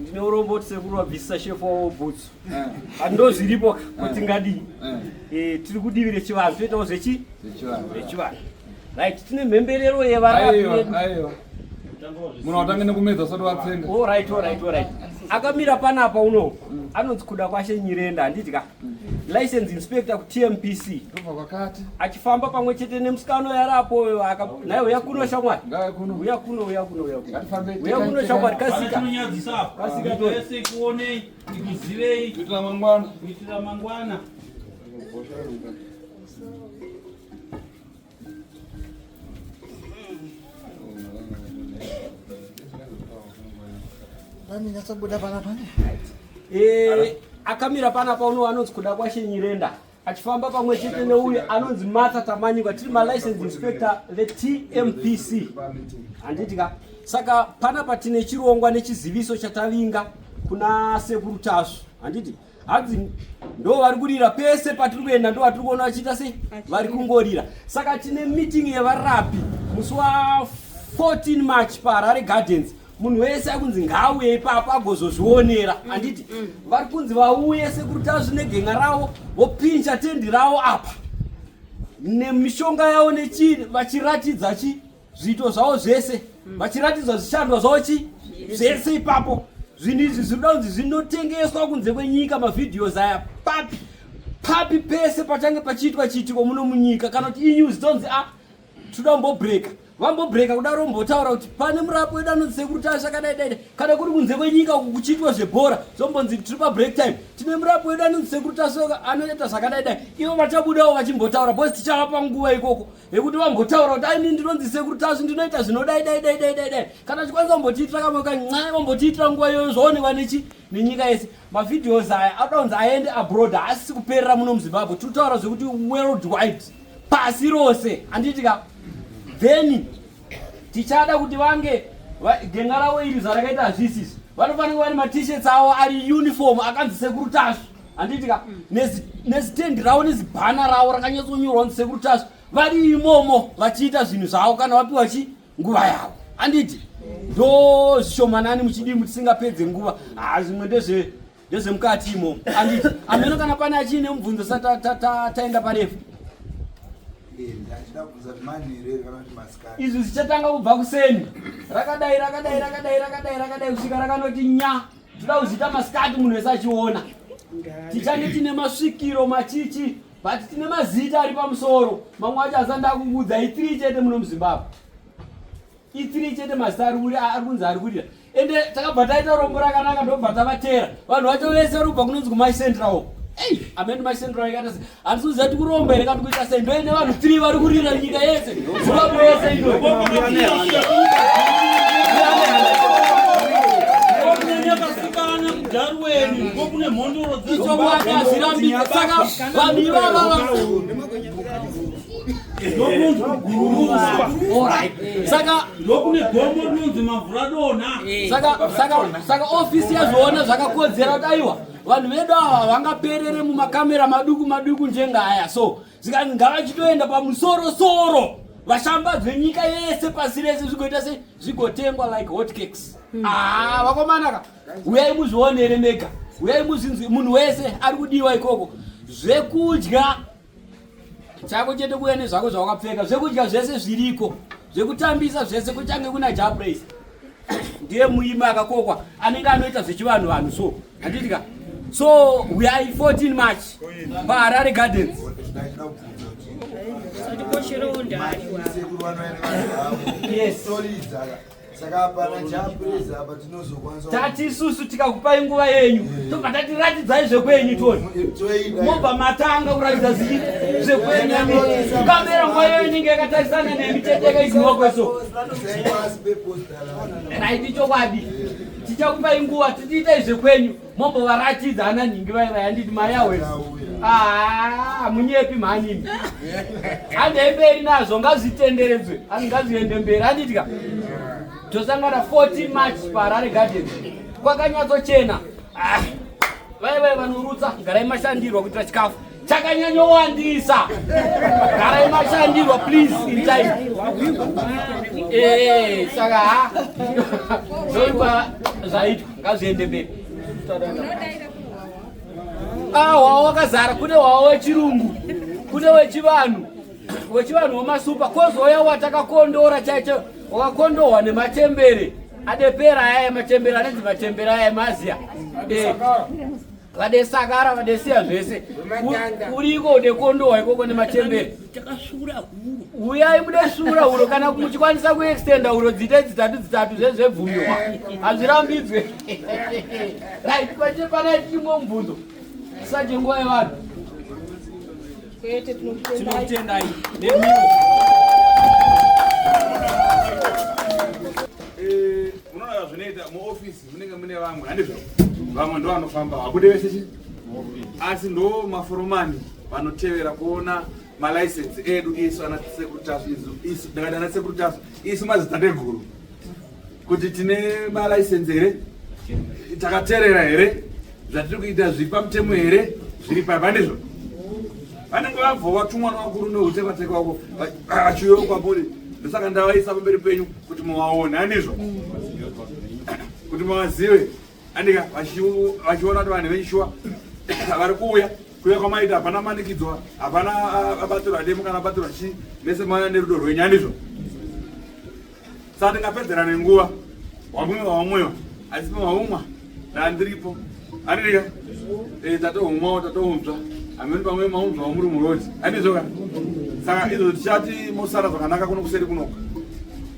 ndine urombo kuti sekuru vabvisisa shefu wavo bhutsu but ndo zviripo kuti ngadii tiri kudivi rechivanhu toitawo zvechi zvechivanhu right tine mhemberero yevarapi munhu watange nekumedza sati vatsenga akamira panapa uno anonzi kuda kwashe nyirenda handiti ka license inspector kutmpc achifamba pamwe chete nemusikano yari apoyo naye uya kuno shamwari uya kuno uya kuno uya kuno shamwari kasika Ndanyatsobuda pana pane. Eh, akamira pana pauno anonzi kuda kwashe Nyirenda. Achifamba pamwe chete neuyu anonzi Martha Tamanyika tiri ma license inspector ve TMPC. Handiti ka? Saka pana patine chirongwa nechiziviso chatavinga kuna Sekuru Tasvu. Handiti? hanzi ndo vari kurira pese patiri kuenda ndo vatiri kuona vachiita sei vari kungorira saka tine meeting yevarapi musi wa 14 march paharare gardens munhu wese akunzi ngaauye ipapo agozozvionera mm, handiti mm. vari kunzi vauye sekuri tazvi negenga ravo vopincha tendi ravo apa nemishonga yavo nechii vachiratidza chii zviito zvavo zvese mm. vachiratidzwa zvishandwa zvavo chi zvese ipapo zvinhu izvi zvinoda kunzi zvinotengeswa kunze kwenyika mavhidhios aya papi papi pese pachange pachiitwa chiitiko muno munyika kana kuti inews tonzi a ah, tinoda kumbobreka vambobreka kuda rombotaura kuti pane murapo wedu anonzi sekuru tasha kadai daida kana kuri kunze kwenyika uku kuchiitwa zvebhora zvombonzi tiri pabreak time tine murapo wedu anonzi sekuru tasha anoita zvakadai dai ivo vachabudawo vachimbotaura bcause tichavapa nguva ikoko yekuti vambotaura kuti aini ndinonzi sekuru tasvi ndinoita zvinodai dai dai dai dai dai kana chikwanisa vambotiitira kamwe kanxai vambotiitira nguva iyoyo zvaonekwa nechi nenyika yese mavideos aya anoda kunzi aende abroad haasisi kuperera muno muzimbabwe tiri kutaura zvekuti world wide pasi rose handiti ka then tichada kuti vange genga ravo iri zvarakaita hazvisisi vanofanira kuva nematishets avo ari uniform akanzi sekuru tasvi handiti ka nezitendi ravo nezibhana ravo rakanyatsonyorwa kunzi sekuru tasvi vari imomo vachiita zvinhu zvavo kana vapiwa chi nguva yavo handiti ndo zvishomanani muchidii mutisingapedze nguva haa zvimwe ndezve ndezvemukati imo anditi ameno kana pane achiine mubvunzo sa taenda parefu izvi zvichatanga kubva kuseni rakadai rakadai rakadai rakadai rakadai kusvika rakanoti nya tida kuzviita masikati munhu wese achiona tichange tine masvikiro machichi but tine mazita ari pamusoro mamwe acho asanda kukuudzai three chete muno muzimbabwe itiri chete mazita ari kurira ari kunzi ari kurira ende takabva taita rombo rakanaka ndobva tavatera vanhu vacho vese vari kubva kunonzi kumai central ei amene mai central ikata se handisi kuziva ti kuromba here katikuita sei ndoine vanhu three vari kurira nyika yese zimbabwe yese ino icho vakazvirambisa saka vanhu ivava saka ofisi yazviona zvakakodzera kuti aiwa vanhu vedu ava vangaperere mumakamera maduku maduku njengaya so saka ngavachitoenda pamusoro soro vashambadzwe nyika yese pasi rese zvigoita se zvigotengwa like hot cakes hmm. aa ah, vakomanaka uyai muzvionere mega uyai muzvinzwi munhu wese ari kudiwa ikoko zvekudya chako chete kuya nezvako zvawakapfeka zvekudya zvese zviriko zvekutambisa zvese kuchange kuna japraise ndiye muimi akakokwa anenge anoita zvechivanhu vanhu so handitika so we are 14 march paharare gardens yes saka apana chapureza apa tinozokwanisa tati isusu tikakupai nguva yenyu eh. tobva tati ratidzai zvekwenyu toni mobva matanga kuratidza zii zvekwenyu kamera nguva yenyu inenge yakatarisana nemi tete yakaiziwa kweso raiti chokwadi eh. tichakupai nguva titiitai zvekwenyu mombovaratidza ana nhingi vai vai handiti mari yawes ah, munyepi mhanini handei mberi nazvo ngazvitenderedzwe asi ngazviende mberi handitika tosangana 14 march paharare garden kwakanyatsochena ah, vai vai vanorutsa garai mashandirwa kuitira chikafu chakanyanyowandisa garai mashandirwa please in time eh, saka ha zvoipa zvaitwa ngazviende mberi ah, hwawa wakazara kune hwawa wechirungu kune wechivanhu wechivanhu wemasupa kozouya watakakondora chaicho wakakondohwa nemachembere adepera aya machembere anenzi machembere aya maziya eh. vadesakara vadesiya zvese uriko nekondowa ikoko nemachembere uyai mude sura huro kana muchikwanisa kuextenda huro dziita dzitatu dzitatu zvezvebvumiwa hazvirambidzwe right kwache panai tichimwe mubvunzo tisaje nguva yevanhu tinokutendai nemiwo eh, unoona zvinoita muofisi munenge mune vamwe handizvo vamwe ndo vanofamba vabude vese chi asi ndo maforomani vanotevera kuona malaisensi edu isu ana sekuru tasu isu ndakati ana sekuru tasu isu madzitateguru kuti tine malaisensi here takaterera here zvatiri kuita zviri pamutemo here zviri papa ndizvo vanenge vabva vatumwa navakuru neutevateka wako vachiuya kwamuri ndosaka ndavaisa pamberi penyu kuti muvaone anizvo kuti muvazive andika vachiona kuti vanhu venyishuwa vari kuuya kuya kwamaita hapana manikidzwa hapana abatirwa demo kana abatirwa chii mese mwana nerudo rwenyu andizvo Saka ndingapedzera nenguva wamwiwa wamwiwa asi pamaumwa ndandiripo anirika eh, tatohumwawo tatounzva amene pamwe maunzva wamuri murodi anizvoka saka izvo tichati mosara zvakanaka kuno kuseri kunoka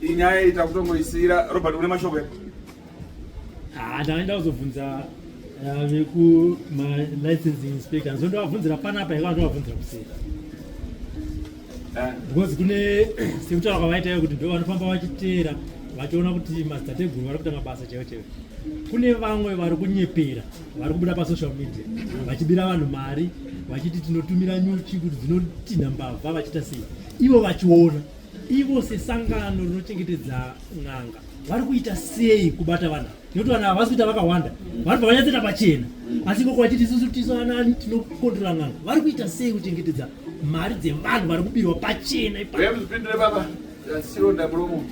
inyaya itakutongoisiyira robert une mashoko Ah, ndaenda kuzobvunza ah, veku malicensing inspector so ndovabvunzira panapa ivaa ndovabvunzira kuseri ah. because kune sekutaura kwavaitayo kuti ndovanofamba vachiteera vachiona kuti madzidateguru vari kuita mabasa chaivo chaivo kune vamwe vari kunyepera vari kubuda pasocial media vachibira vanhu mari vachiti tinotumira nyuchi kuti dzinotinha mbavha vachiita sei ivo vachiona ivo sesangano rinochengetedza n'anga vari kuita sei kubata vanhu nekuti vanhu havasi kuita vakawanda vanobva vanyatsoita pachena asi ikoko vachiti isusu tisu anani tinokontrola n'anga vari kuita sei kuchengetedza mari dzevanhu vari kubirwa pachena ipapindure baba sironda muromo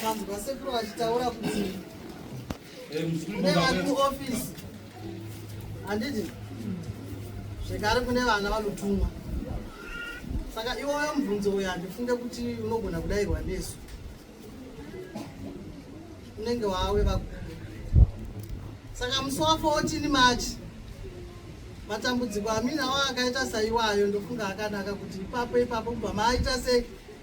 vanhu vasekuru vachitaura kuti handiti zvekare kune vana vanotumwa saka iwoyo mubvunzo uyo handifunge kuti unogona kudairwa nesu unenge wawe vakuru saka musi wa 14 march matambudziko amina wa akaita saiwayo ndofunga akanaka kuti ipapo ipapo kubva maaita sei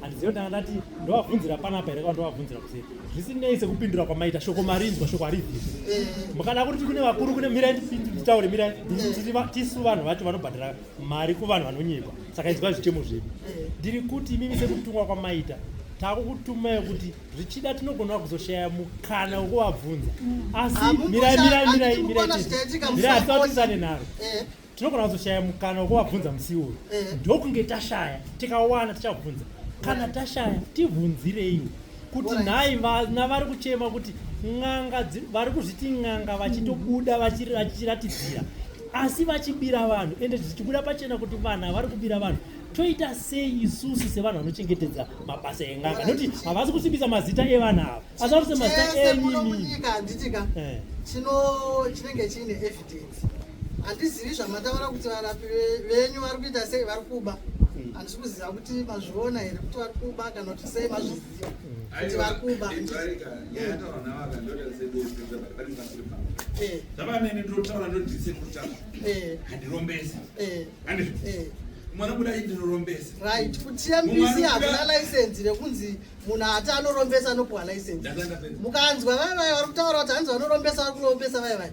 handizive kuti ndanga ndati ndovabvunzira panapa here kana ndovabvunzira kuseri zvisinei sekupindura kwamaita shoko marinzwa shoko haribvisi eh. mukada kuti kune vakuru kune mirai nditaure mirai tisu vanhu vacho vanobhadhara mari kuvanhu vanonyekwa saka izwa zvichemo zvedu eh. ndiri kuti imimi sekutumwa kwamaita takukutumai kuti zvichida tinogona kuzoshaya mukana wekuvabvunza mm. asi mirai mirai mirai mirai mirai asi vatisane nharo eh. tinogona kuzoshaya mukana wekuvabvunza musi iwoyo eh. ndokunge tashaya tikawana tichabvunza kana tashaya tibvunzireiwo kuti nhai vana vari kuchema kuti n'anga vari kuzviti n'anga vachitobuda vachiratidzira asi vachibira vanhu ende zvichibuda pachena kuti vanhu havari kubira vanhu toita sei isusu sevanhu vanochengetedza mabasa enganga nokuti havasi kusimbisa mazita evanhu ava asi vari kusimazita enyini eh. chinenge chiine handizivi zvamataura kuti varapi venyu vari kuita sei vari kuba handisi kuziva kuti mazviona here kuti vari kuba kana kuti sei mazviziva kuti vari kuba zvavanene ndotaura ndodise kuta handirombese mwana kudai ndinorombesa right kutiya mbisi hakuna license nekunzi munhu ati anorombesa anopuwa license mukanzwa vaya vaya vari kutaura kuti hanzi vanorombesa vari kurombesa vaya vaya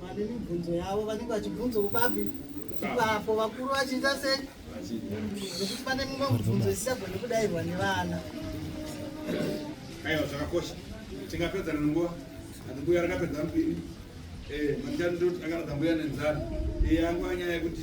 Vane mibvunzo yavo vanenge vachibvunzawo babi ipapo vakuru vachiita sei nekuti pane mumwe mubvunzo isisagone kudairwa nevana. Aiwa zvakakosha tingapedzana nenguva atimbuya rakapedza mupini eh, manjani ndoti akaradza mbuya nenzara eh, yangu anyaya yekuti